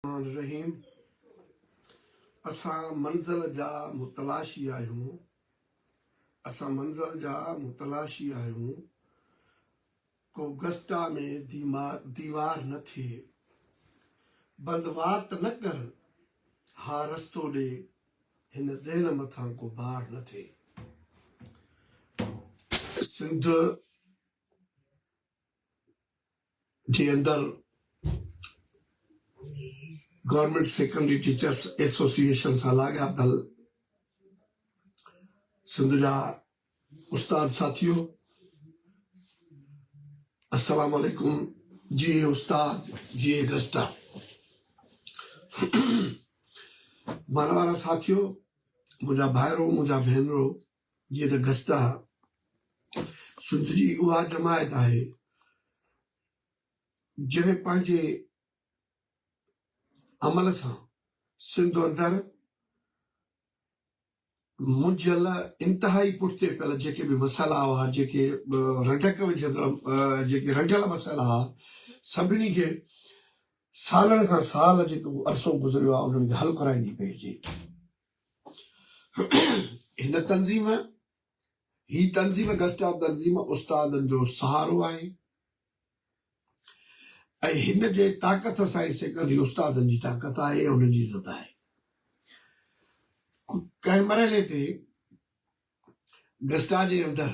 الرحمان الرحيم اسان منزل جا متلاشي آهيون اسان منزل جا متلاشي آهيون ڪو گسٽا ۾ ديوار نه ٿئي بند واٽ نه ڪر ها رستو ڏي هن ذهن مٿان ڪو بار نه ٿئي سنڌ جي اندر گورنمينٽ سيڪنڊري ٽيچرس ايسوسيئيشن سان لاڳاپيل سنڌ جا استاد ساٿيو السلام عليڪم جي استاد جي گسٽا مانوارا ساٿيو منهنجا ڀائرو منهنجا ڀينرو جيئن ته گستا سنڌجي اها جماعت آهي جنهن پنهنجي عمل سان سنڌ اندر منجهيل انتهائي پٺتي پيل جيڪي به مسئلا هئا جيڪي رنڊڪ وجهندڙ جيڪي رنڊيل مسئلا هئا سڀني کي سالن کان سال جيڪو عرصو گذريو آهي انهن کي حل ڪرائيندي پئي اچي هن تنظيم، هي تنظيم گسٽا تنظيم استادن جو سهارو آهي ۽ هن جي طاقت سائين سيڪنڊري استادن جي طاقت آهي ۽ انهن جي عزت آهي. ڪنهن مرحلي تي گسٽا جي اندر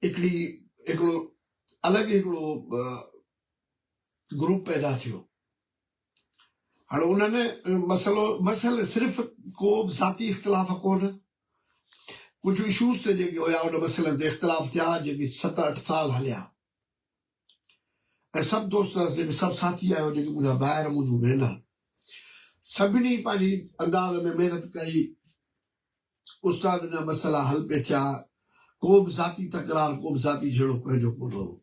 هڪڙي هڪڙو الڳ هڪڙو گروپ پيدا ٿيو هاڻ انهن مسئلو مسئل صرف ڪو به ذاتي اختلاف ڪونه ڪجهه اشوز تي جيڪي هيا ان مسئلن تي اختلاف ٿيا جيڪي ست اٺ سال هليا ۽ سڀ دوست جيڪي سڀ ساٿي آهيو جيڪي منهنجا ڀائر منهنجون ڀينر سڀني پنهنجي انداز ۾ محنت ڪئي استاد جا مسئلا حل پي ٿيا ڪو به ذاتي تڪرار ڪو به ذاتي جھيڙو ڪنهن جو ڪونه هو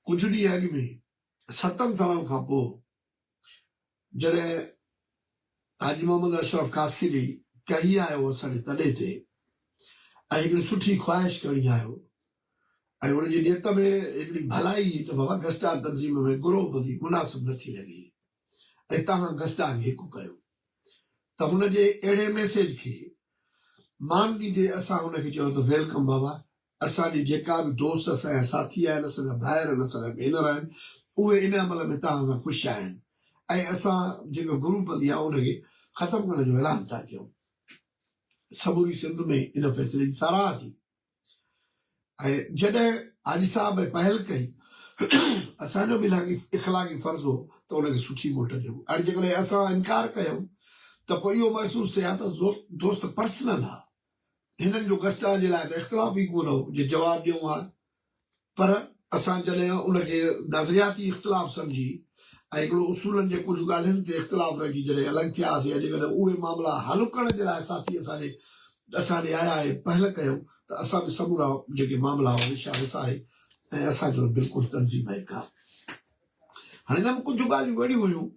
ڪجهه ڏينهن اڳ ۾ ستن سالن کان پوء جڏهن حاجي محمد اشرف خاصخيلي ڪهي آيو اسان جي تڏي تي ۽ هڪڙي سٺي خواهش کڻي آيو ۽ ان جي نيت ۾ هڪڙي ڀلائي هئي ته بابا گسٽان تنظيم ۾ گروهه بندي مناسب نه ٿي لڳي ۽ توهان گسٽان هڪ ڪيو ته هن جي اهڙي ميسيج کي مان ڏيندي اسان هن کي چيو ته ويلڪم بابا اسان جي جيڪا به دوست اسان جا ساٿي آهن، اسان جا ڀائر آهن، اسان جا ڀينر آهن، اهي ان عمل ۾ توهان سان خوش آهن ۽ اسان جيڪا گروپ بندي آهي ان کي ختم ڪرڻ جو اعلان ٿا ڪيون. سموري سنڌ ۾ ان فيصلي جي ساراهه ٿي ۽ جڏهن حاجي صاحب اهي پهل ڪئي اسان جو به اخلاقي فرض هو ته ان کي سٺي موٽ ڏيون. هاڻي جيڪڏهن اسان انڪار ڪيون ته پوء اهو محسوس ٿئي ها ته دوست پرسنل ها. هنن جو گسٽا جي لاء ته اختلاف ئي ڪونه هو جو جواب ڏيون ها پر اسان جڏهن ان کي نظرياتي اختلاف سمجهي ۽ هڪڙو اصولن جي ڪجهه ڳالهين تي اختلاف رکي جڏهن الڳ ٿيا هئاسين يا جيڪڏهن اهي معاملا حل ڪرڻ جي لاء ساٿي اسان جي اسان ڏي آيا ۽ پهل ڪيائون ته اسان به سمورا جيڪي معاملا هئا وشا وساري ۽ اسان جو بلڪل تنظيم ۽ ڪا هاڻي هن ۾ ڪجهه ڳالهيون اهڙيون هيون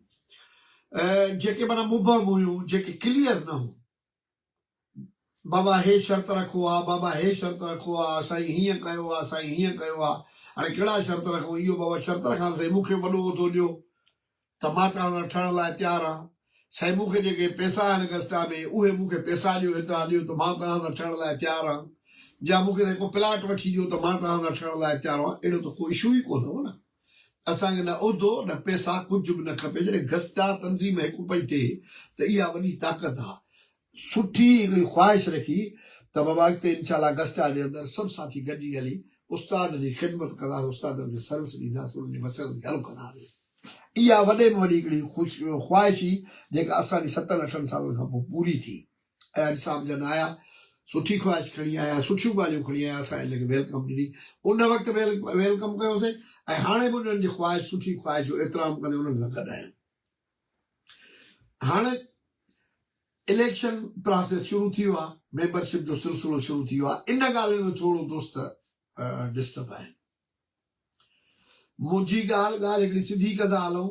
جيڪي معنيٰ مبهم هيون جيڪي ڪليئر نه هيون بابا هي شرط رکو ها، بابا هي شرط رکو ها، سائين هيئن ڪيو ها، سائين هيئن ڪيو ها، هاڻي ڪهڙا شرط رکون، اهو بابا شرط رکان ته سائين مون کي وڏو عهدو ڏيو ته مان توهان سان ٺهڻ لاء تيار آهيان، سائين مون کي جيڪي پئسا آهن گذشته ۾ اهي مون کي پئسا ڏيو، هيترا ڏيو ته مان توهان سان ٺهڻ لاء تيار آهيان يا مون کي سائين ڪو پلاٽ وٺي ڏيو ته مان توهان سان ٺهڻ لاء تيار آهيان، اهڙو ته ڪو اشو ئي ڪونه هو نه. اسان کي نه عهدو نه پئسا ڪجهه به نه کپي جڏهن گسٽا تنظيم هڪ پئي ٿئي ته اها وڏي طاقت آ سٺي هڪڙي خواهش رکي ته بابا اڳتي انشاء الله گسٽا جي اندر سڀ ساٿي گڏجي هلي استاد جي خدمت ڪنداسين استادن کي سروس ڏينداسين انهن جي مسئلن کي حل ڪنداسين اها وڏي ۾ وڏي هڪڙي خواهش هئي جيڪا اسان جي ستن اٺن سالن کان پوء پوري ٿي. ايا نصاب جا نه آيا، سٺي خواهش کڻي آيا، سٺيون ڳالهيون کڻي آيا، اسان انهن کي ويلڪم ڏني، ان وقت به ويلڪم ڪيوسين ۽ هاڻي به انهن جي خواهش، سٺي خواهش جو احترام ڪندي انهن سان گڏ آهيون. هاڻي اليڪشن پراسيس شروع ٿي ويو آهي، ميمبرشپ جو سلسلو شروع ٿي ويو آهي، ان ڳالهين ۾ ٿورو دوست ڊسٽرب آهن. منهنجي ڳالهه ڳالهه هڪڙي سڌي ڪندا هلون،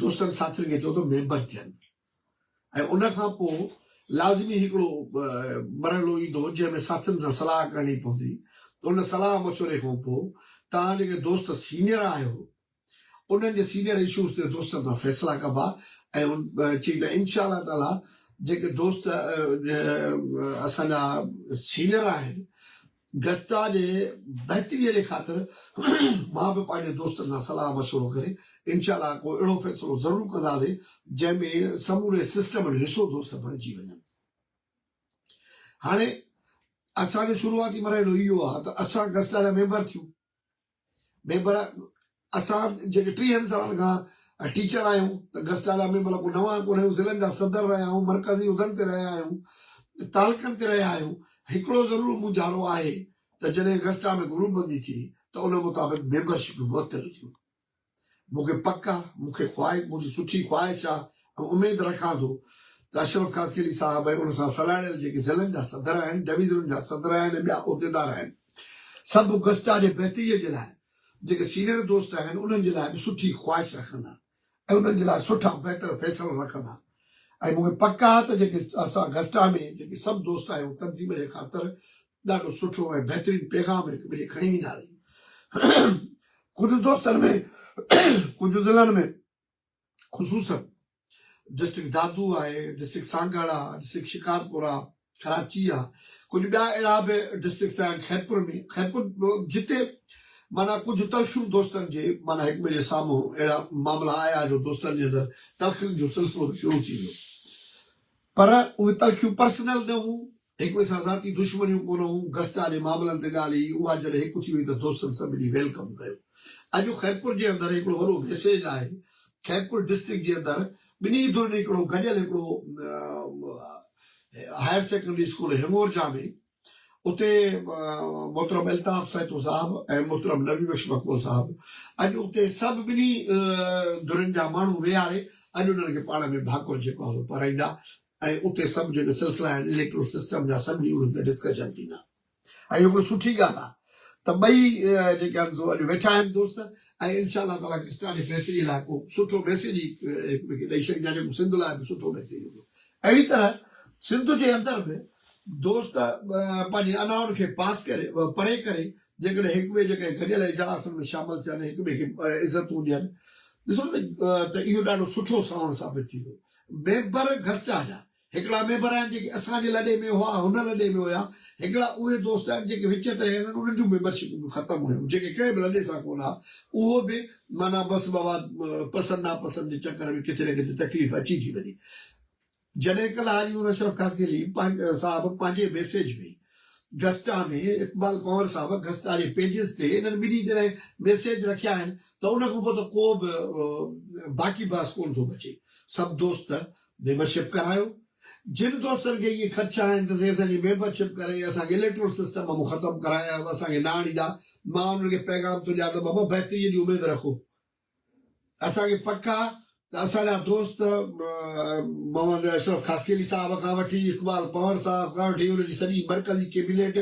دوستن ساٿين کي چئو ته ميمبر ٿين ۽ ان کان پوء لازمي هڪڙو مرحلو ايندو جنهن ۾ ساٿين سان صلاح ڪرڻي پوندي ته ان صلاح مشوري کان پوء توهان جيڪي دوست سينئر آهيو انهن جي سينئر اشوز تي دوستن سان فيصلا ڪبا ۽ چئي ته انشاء الله تعالي جيڪي دوست اسان جا سينئر آهن گسٽا جي بهتريء جي خاطر مان به پنهنجي دوستن سان صلاح مشورو ڪري انشاء الله ڪو اهڙو فيصلو ضرور ڪنداسين جنهن ۾ سموري سسٽم جو حصو دوست بڻجي وڃن. هاڻي اسان جو شروعاتي مرحلو اهو آهي ته اسان گسٽا جا ميمبر ٿيون. ميمبر اسان جيڪي ٽيهن سالن کان ٽيچر آهيون ته گسٽا جا ميمبر ڪو نوان ڪونه آهيون ضلعن جا صدر رهيا آهيون مرڪزي عهدن تي رهيا آهيون تعلقن تي رهيا آهيون هڪڙو ضرور مونجهارو آهي ته جڏهن گسٽا ۾ گروپ بندي ٿي ته ان مطابق ميمبرشپون معطل ٿيون مون کي پڪ آ، مون کي خواهش، منهنجي سٺي خواهش آ ۽ اميد رکان ٿو ته اشرف خاصخيلي صاحب ۽ ان سان سلهاڙيل جيڪي ضلعن جا صدر آهن، ڊويزنن جا صدر آهن ۽ ٻيا عهديدار آهن، سڀ گسٽا جي بهتريء جي لاء جيڪي سينئر دوست آهن، انهن جي لاء به سٺي خواهش رکندا ۽ انهن جي لاء سٺا بهتر فيصلا رکندا ۽ مون کي پڪ آ ته جيڪي اسان گسٽا ۾ جيڪي سڀ دوست آهيون، تنظيم جي خاطر ڏاڍو سٺو ۽ بهترين پيغام هڪ ٻئي ڏي کڻي ويندا آهيون ڪجهه دوستن ۾ ڪجهه ضلعن ۾ خصوصا ڊسٽرڪٽ دادو آهي ڊسٽرڪٽ سانگهڙ آهي ڊسٽرڪٽ شڪارپور آهي ڪراچي آهي ڪجهه ٻيا اهڙا به ڊسٽرڪٽس آهن خيرپور ۾ خيرپور جتي مانا ڪجهه تلخيون دوستن جي مانا هڪ ٻئي جي سامهون اهڙا معاملا آيا جو دوستن جي اندر تلخين جو سلسلو به شروع ٿي ويو پر اهي تلخيون پرسنل نه هيون هڪٻئي سان ذاتي دشمنيون ڪونه هون، گسٽ آڏي معاملن تي ڳالهه هي، اها جڏهن هڪ ٿي وئي ته دوستن سڀني ويلڪم ڪيو. اڄ خيرپور جي اندر هڪڙو وڏو ميسيج آهي، خيرپور ڊسٽرڪٽ جي اندر ٻنهي ڌرين هڪڙو گڏيل هڪڙو هائر سيڪنڊري اسڪول هيمورجا ۾ اتي محترم الطاف سهتو صاحب ۽ محترم نبي بخش مقبول صاحب اڄ اتي سڀ ٻنهي ڌرين جا ماڻهو ويهاري اڄ انهن کي پاڻ ۾ ڀاڪر جيڪو آهي سو پارائيندا، ۽ اتي سڀ جيڪي سلسلا آهن اليڪٽرل سسٽم جا سڀ نيون هتي ڊسڪشن ٿيندا ۽ اهو هڪڙو سٺي ڳالهه آهي ته ٻئي جيڪي آهن سو اڄ ويٺا آهن دوست ۽ انشاء الله تعالٰي ڪرسٽا جي بهتري لاء ڪو سٺو ميسيج هڪ ٻئي کي ڏئي ڇڏيندا جيڪو سنڌ لاء به سٺو ميسيج هوندو اهڙي طرح سنڌ جي اندر به دوست پنهنجي انائن کي پاس ڪري پري ڪري جيڪڏهن هڪ ٻئي جيڪي گڏيل اجلاسن ۾ شامل ٿين هڪ ٻئي کي عزتون ڏين ڏسو ته اهو ڏاڍو سٺو ساوڻ ثابت ٿيندو ميمبر گسٽا جا هڪڙا ميمبر آهن جيڪي اسان جي لڏي ۾ هئا هن لڏي ۾ هيا هڪڙا اهي دوست آهن جيڪي وچ تي رهيل آهن انهن جون ميمبرشپون به ختم هيون جيڪي ڪنهن به لڏي سان ڪونه ها اهو به معنيٰ بس مواد پسند ناپسند جي چڪر ۾ ڪٿي نه ڪٿي تڪليف اچي ٿي وڃي جڏهن ڪلهه حاجي محمد اشرف خاصخيلي صاحب پنهنجي ميسيج ۾ گسٽا ۾ اقبال ڪنور صاحب گسٽا جي پيجز تي انهن ٻنهي جڏهن ميسيج رکيا آهن ته ان کان پوء ته ڪو به باقي بحث ڪونه ٿو بچي سڀ دوست ميمبر شپ ڪرايو جن دوستن کي اهي خدشا آهن ته سي اسان جي ميمبر شپ ڪري اسان کي اليڪٽرل سسٽم مان ختم ڪرايا اسان کي نه آڻيندا مان انهن کي پيغام ٿو ڏيان ته بابا بهتري جي اميد رکو اسان کي پڪ آ ته اسان جا دوست محمد اشرف خاصخيلي صاحب کان وٺي اقبال پنهور صاحب کان وٺي ان جي سڄي مرڪزي ڪيبينيٽ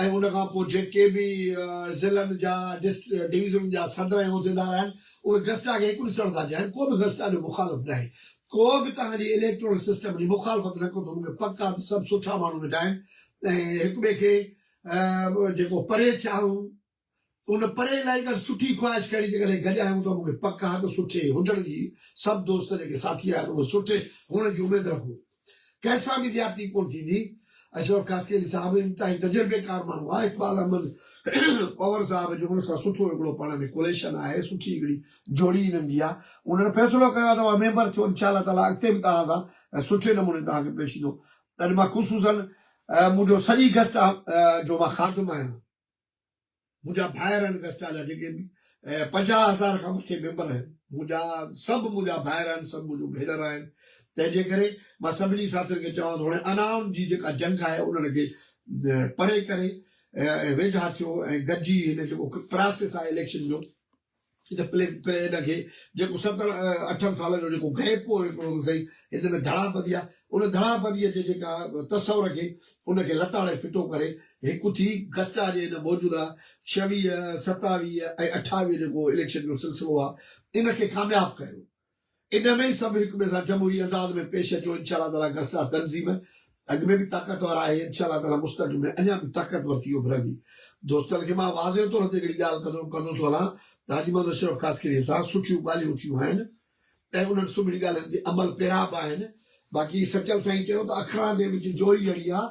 ۽ ان کان پوء جيڪي به ضلعن جا ڊويزنن جا صدر ۽ عهديدار آهن اهي گسٽا کي هڪ ڏسڻ ٿا چاهين ڪو به گسٽا جو مخالف ناهي ڪو به توهان جي اليڪٽورل سسٽم جي مخالفت نه ڪندو مون کي پڪ آ ته سڀ سٺا ماڻهو ويٺا آهن ۽ هڪ ٻئي کي جيڪو پري ٿيا آهيون ان پرين لاء هڪ سٺي خواهش ڪري جيڪڏهن گڏ آهيون ته مون کي پڪ آهي ته سٺي هجڻ جي سڀ دوست جيڪي ساٿي آهن اهي سٺي هئڻ جي اميد رکون ڪنهن سان به زيادتي ڪونه ٿيندي اشرف خاصخيلي صاحب انتهائي تجربيڪار ماڻهو آهي اقبال احمد پنور صاحب جو ان سان سٺو هڪڙو پاڻ ۾ ڪوليشن آهي سٺي هڪڙي جوڙي انهن جي آهي انهن فيصلو ڪيو آهي ته اوهان ميمبر ٿيو انشاء الله تعالي اڳتي به توهان سان سٺي نموني توهان کي پيش ايندو اڄ مان خصوصن منهنجو سڄي گسٽا جو مان خادم آهيان منهنجا ڀائر آهن گسٽا جا جيڪي به پنجاهه هزار کان مٿي ميمبر آهن منهنجا سڀ منهنجا ڀائر آهن سڀ منهنجون ڀينر آهن تنهن جي ڪري مان سڀني ساٿين کي چوان ٿو هاڻي انائن جي جيڪا جنگ آهي انهن کي پري ڪري ويجها ٿيو ۽ گڏجي هن جيڪو پراسيس آهي اليڪشن جو ان پليگ پريڊ کي جيڪو ستن اٺن سالن جو جيڪو گئپ هو هڪڙو ته سهي هن ۾ ڌڙاپدي آ ان ڌڙاپدي جي جيڪا تصور کي ان کي لتاڙي ڦٽو ڪري هڪ ٿي گسٽا جي هن موجوده ڇويهه، ستاويهه ۽ اٺاويهه جيڪو اليڪشن جو سلسلو آ ان کي ڪامياب ڪيو. ان ۾ ئي سڀ هڪ ٻئي سان جمهوري انداز ۾ پيش اچو انشاء الله تعاليٰ گسٽا تنظيم اڳ ۾ به طاقتور آهي انشاء الله تعاليٰ مستقبل ۾ اڃا به طاقتور ٿي اڀرندي دوستن کي مان واضح طور تي هڪڙي ڳالهه ڪندو ڪندو ٿو هلان ته حاجي محمد اشرف خاصخيلي سان سٺيون ڳالهيون ٿيون آهن ۽ انهن سڀني ڳالهين تي عمل پيرا به آهن باقي سچل سائين چيو ته اکران دي وچ جوئي جهڙي آهي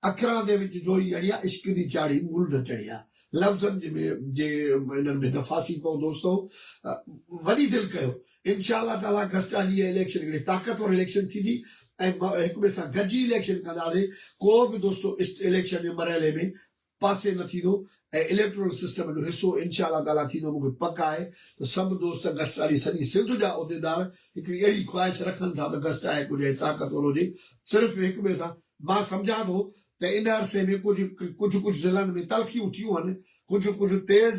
اکران دي وچ جوئي اڻيا، عشق دي چاڙهي مول نه چڙهيا. لفظن جي انهن ۾ نفاسي پئو دوستو وڏي دل ڪيو انشاء الله تعالي گذشته ڏينهن اليڪشن هڪڙي طاقتور اليڪشن ٿيندي ۽ هڪٻئي سان گڏجي اليڪشن ڪنداسي ڪو به دوستو اليڪشن جي مرحلي ۾ پاسي نه ٿيندو ۽ اليڪٽورل سسٽم جو حصو انشاء الله تعاليٰ ٿيندو مون کي پڪ آهي ته سڀ دوست گسٽاڻي سڄي سنڌ جا عهديدار هڪڙي اهڙي خواهش رکن ٿا ته گسٽا هڪ هجي ۽ طاقتور هجي صرف هڪ ٻئي سان مان سمجهان ٿو ته ان عرصي ۾ ڪجهه ڪجهه ڪجهه ضلعن ۾ تلخيون ٿيون هن ڪجهه ڪجهه تيز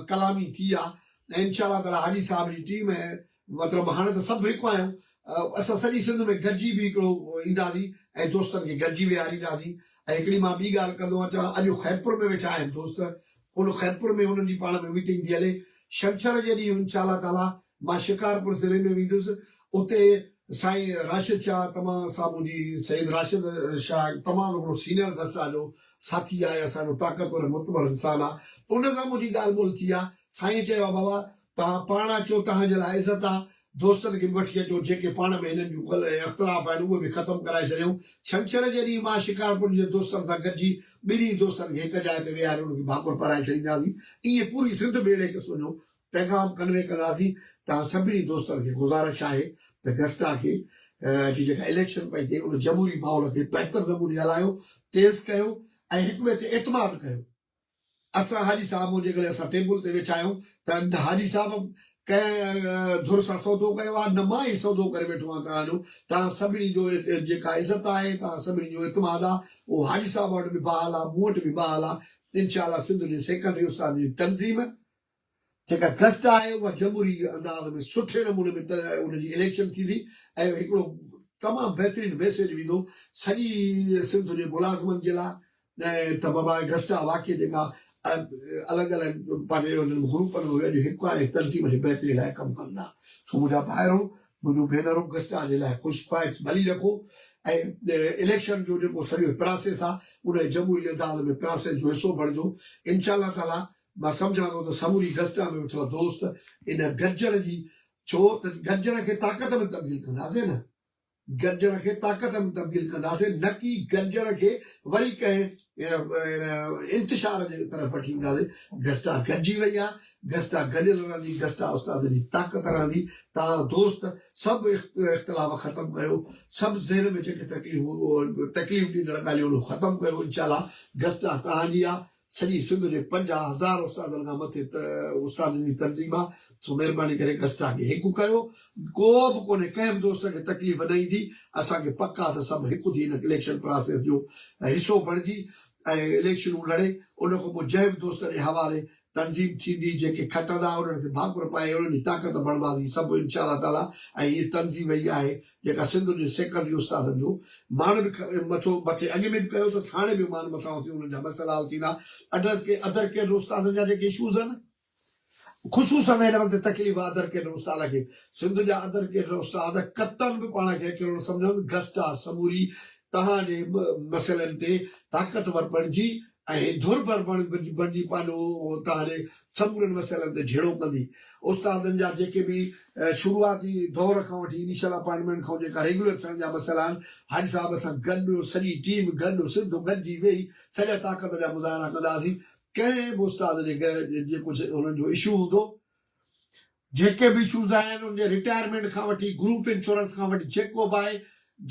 ڪلامي ٿي آهي ۽ انشاء الله تعاليٰ حاجي صاحب جي ٽيم ۽ مطلب هاڻي ته سڀ هڪ آهيون. اسان سڄي سنڌ ۾ گڏجي به هڪڙو اينداسين ۽ دوستن کي گڏجي ويهارينداسين ۽ هڪڙي مان ٻي ڳالهه ڪندو اچان اڄ هو خيرپور ۾ ويٺا آهن دوست ان خيرپور ۾ انهن جي پاڻ ۾ ميٽنگ ٿي هلي شنڇر جي ڏينهن ان شاءالله تعاليٰ مان شڪارپور ضلعي ۾ ويندس اتي سائين راشد شاهه تمام سامهون جي سيد راشد شاهه تمام هڪڙو سينئر درسا جو ساٿي آهي اسان جو طاقتور ۽ معتبر انسان آهي ان سان منهنجي ڳالهه ٻولهه ٿي آهي سائين چيو آهي بابا توهان پاڻ اچو، توهان جي لاء عزت آ. دوستن کي به وٺي اچو، جيڪي پاڻ ۾ هنن جون ڪلهه ۽ اختلاف آهن، اهي به ختم ڪرائي ڇڏيائون. ڇنڇر جي ڏينهن مان شڪارپور جي دوستن سان گڏجي، ٻنهي دوستن کي هڪ جاء تي ويهاري انهن کي ڀاڪر پرائي ڇڏينداسين. ائين پوري سنڌ ۾ اهڙي قسم جو پيغام ڪنوي ڪنداسين. توهان سڀني دوستن کي گذارش آهي ته گسٽا کي جي جيڪا اليڪشن پئي ٿئي، ان جمهوري ماحول کي بهتر نموني هلايو، تيز ڪيو ۽ هڪٻئي تي اعتماد ڪيو. اسان حاجي صاحب هون جيڪڏهن اسان ٽيبل تي ويٺا آهيون ته نه حاجي صاحب ڪنهن ڌر سان سودو ڪيو آهي نه مان ئي سودو ڪري ويٺو آهيان توهان جو توهان سڀني جو جيڪا عزت آهي توهان سڀني جو اعتماد آهي اهو حاجي صاحب وٽ به بحال آهي مون وٽ به بحال آهي انشاء الله سنڌ جي سيڪنڊري استادن جي تنظيم جيڪا گذٽ آهي اها جمهوري انداز ۾ سٺي نموني ۾ ان جي اليڪشن ٿيندي ۽ هڪڙو تمام بهترين ميسيج ويندو سڄي سنڌ جي ملازمن جي لاء ته بابا گذٽ آهي واقعي جيڪا الڳ الڳ پنهنجي انهن گروپن ۾ اهي اڄ هڪ آهن ۽ تنظيم جي بهتري لاء ڪم ڪن ٿا سو منهنجا ڀائرو منهنجون ڀينرون گذٽ آهي جي لاء خوش خواهش ڀلي رکو ۽ اليڪشن جو جيڪو سڄو پراسيس آهي ان جي جمهوري انداز ۾ پراسيس جو حصو بڻجو انشاء الله تعالي مان سمجهان ٿو ته سموري گسٽا ۾ ويٺل دوست ان گرجڻ جي ڇو ته گرجڻ کي طاقت ۾ تبديل ڪنداسين نه گرجڻ کي طاقت ۾ تبديل ڪنداسين نه ڪي گرجڻ کي وري ڪنهن انتشار جي طرف وٺي وينداسين گسٽا گڏجي وئي آهي گسٽا گڏيل رهندي گسٽا استاد جي طاقت رهندي تان دوست سڀ اختلاف ختم ڪيو سڀ ذهن ۾ جيڪي تڪليفون تڪليف ڏيندڙ ڳالهيون ختم ڪيو انشاء الله گسٽا تهان جي آهي سڄي سنڌ جي پنجاهه هزار استادن کان مٿي استادن جي تنظيم آ سو مهرباني ڪري گسٽا کي هڪ ڪيو ڪو به ڪونهي ڪنهن به دوست کي تڪليف نه ايندي اسان کي پڪ آ ته سڀ هڪ ٿي هن اليڪشن پراسيس جو حصو بڻجي ۽ اليڪشنون لڙي ان کان پوء جنهن به دوست جي حوالي تنظيم ٿيندي جيڪي کٽندا انهن کي ڀاڪر پائي انهن جي طاقت بڻباسي سڀ انشاء الله تعالي ۽ هي تنظيم ئي آهي جيڪا سنڌ جي سيڪڙ جي استادن جو مان به مٿو مٿي اڳي ۾ به ڪيو اٿس هاڻي به مان مٿانهون ٿي انهن جا مسئلا حل ٿيندا اڍر ڪي اڌر ڪيڊر استادن جا جيڪي اشوز آهن خصوصا هن وقت تڪليف آهي اڌر ڪيڊر استاد کي سنڌ جا اڌر ڪيڊر استاد ڪتن به پاڻ کي اڪيلو نه سمجهن گسٽا سموري توهان جي مسئلن تي طاقتور بڻجي ۽ ڌر ڀر بڻجي پنهنجو تان هلي سمورن مسئلن تي جهيڙو ڪندي. استادن جا جيڪي به شروعاتي دور کان وٺي انيشل اپائنٽمينٽ کان جيڪا ريگيولر ٿيڻ جا مسئلا آهن، حاجي صاحب سان گڏ سڄي ٽيم گڏ سنڌ گڏجي ويهي سڄا طاقت جا مظاهرا ڪنداسين. ڪنهن به استاد جي جي ڪجهه هنن جو اشو هوندو جيڪي به اشوز آهن ان جي رٽائرمينٽ کان وٺي گروپ انشورنس کان وٺي جيڪو به آهي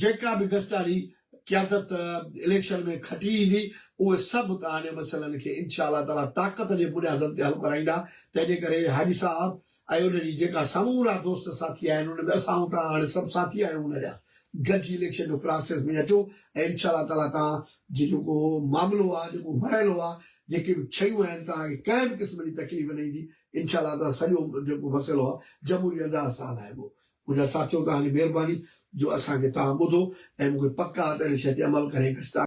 جيڪا به گذشتاري قيادت اليڪشن ۾ کٽي ايندي اهي سڀ تهان جي مسئلن کي انشاء الله تعالي طاقت جي بنيادن تي حل ڪرائيندا تنهن جي ڪري حاجي صاحب ۽ ان جي جيڪا سمورا دوست ساٿي آهن ان ۾ اسان توهان هاڻي سڀ ساٿي آهيون ان جا گڏجي اليڪشن جو پراسيس ۾ اچو ۽ انشاء الله تعالي تهان جي جيڪو معاملو آهي جيڪو مرحلو آهي جيڪي به شيون آهن تهان کي ڪنهن به قسم جي تڪليف نه ايندي انشاء الله تعاليٰ سڄو جيڪو مسئلو آهي جمهوري انداز سان هلائبو. منهنجا ساٿيو توهان جي مهرباني جو اسان کي توهان ٻڌو ۽ مون کي پڪ آهي ته ان شيء تي عمل ڪري هڪ اسٽاڪ.